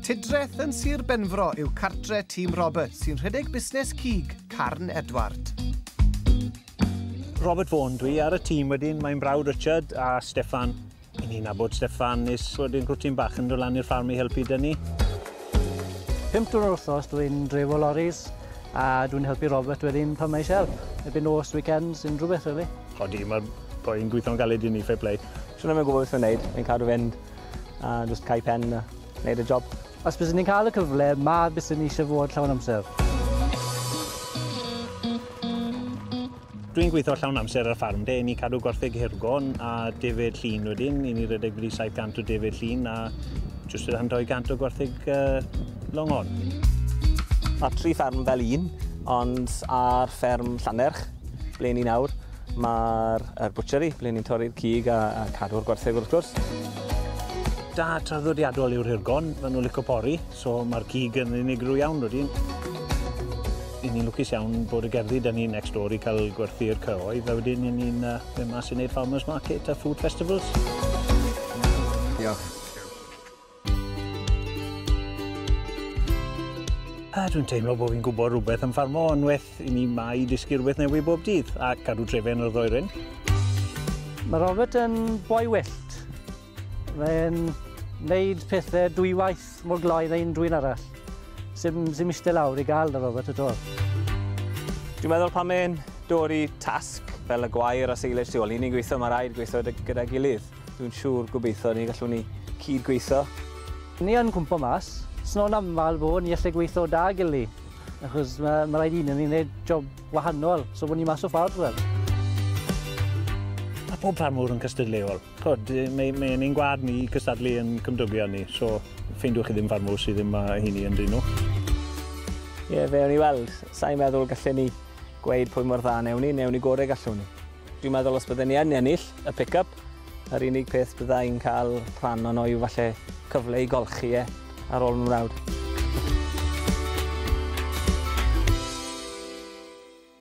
Tudreth yn Sir Benfro yw cartre Tîm Robert sy'n rhedeg busnes cig Carn Edward. Robert Vaughan dwi ar y tîm wedyn, mae'n brawd Richard a Steffan. Yn ni'n abod Steffan nes wedyn gwrtyn bach yn dod lan i'r ffarm i helpu dynnu. Pimp drwy'r wrthos dwi'n drefo loris a dwi'n helpu Robert wedyn pan mae eisiau help. Ebyn nos, weekends, unrhyw beth really. Odi, mae'r boi'n gweithio'n galed i ni, fair play. Swn i'm yn gwybod beth mae'n wneud, mae'n cadw fynd a just cau pen a wneud y job. Os byswn i'n cael y cyfle, ma byswn i eisiau fod llawn amser. Dwi'n gweithio llawn amser ar y ffarm de, ni cadw gwartheg hirgon a defyd llun wedyn, i ni redeg wedi 700 o defyd llun a jyst rhan 200 o gwartheg uh, longon. Mae tri ffarm fel un, ond ar fferm Llanerch, ble ni nawr, Mae'r er bwtsieri, ble ni'n torri'r cig a, a cadw'r gwartheg wrth gwrs. Da traddodiadol yw'r hirgon, maen nhw'n licio pori, so mae'r cig yn unigryw iawn rydyn. I ni'n lwcus iawn bod y gerddi da ni next door i cael gwerthu'r cyhoedd, a wedyn i ni'n uh, mynd mas i wneud farmers market a food festivals. Diolch. A dwi'n teimlo bod fi'n gwybod rhywbeth am ffarmo, ond well i ni mai dysgu rhywbeth newydd bob dydd a cadw trefen o'r ddoeren. Mae Robert yn boi wyllt. Mae'n wneud pethau dwy waith mor gloi na unrhyw un arall. Sim, sim eistedd lawr i gael na Robert at all. Dwi'n meddwl pan mae'n dod i tasg fel y gwair a silage tu ôl, ni'n ni'n gweithio, mae rhaid gweithio gyda'i gilydd. Dwi'n siŵr gobeithio ni gallwn ni cyd gweithio. Ni yn cwmpo mas. Sno'n aml bod ni allai gweithio da gili. Achos mae, mae rhaid un yn ni'n gwneud job wahanol. So bod ni mas o ffordd fel. Mae pob ffarmwr yn cystadleuol. Cod, mae, mae yn ein gwad ni cystadlu yn cymdogion ni. So ffeindiwch chi ddim ffarmwr sydd ddim mae hynny yn dyn nhw. Ie, fe o'n i weld. Sa'n meddwl gallen ni gweud pwy mor dda newn ni, newn ni gorau gallwn ni. Dwi'n meddwl os bydden ni yn ennill y pick-up, yr unig peth bydda i'n cael rhan ono yw falle cyfle i golchi e ar ôl fy mrawd.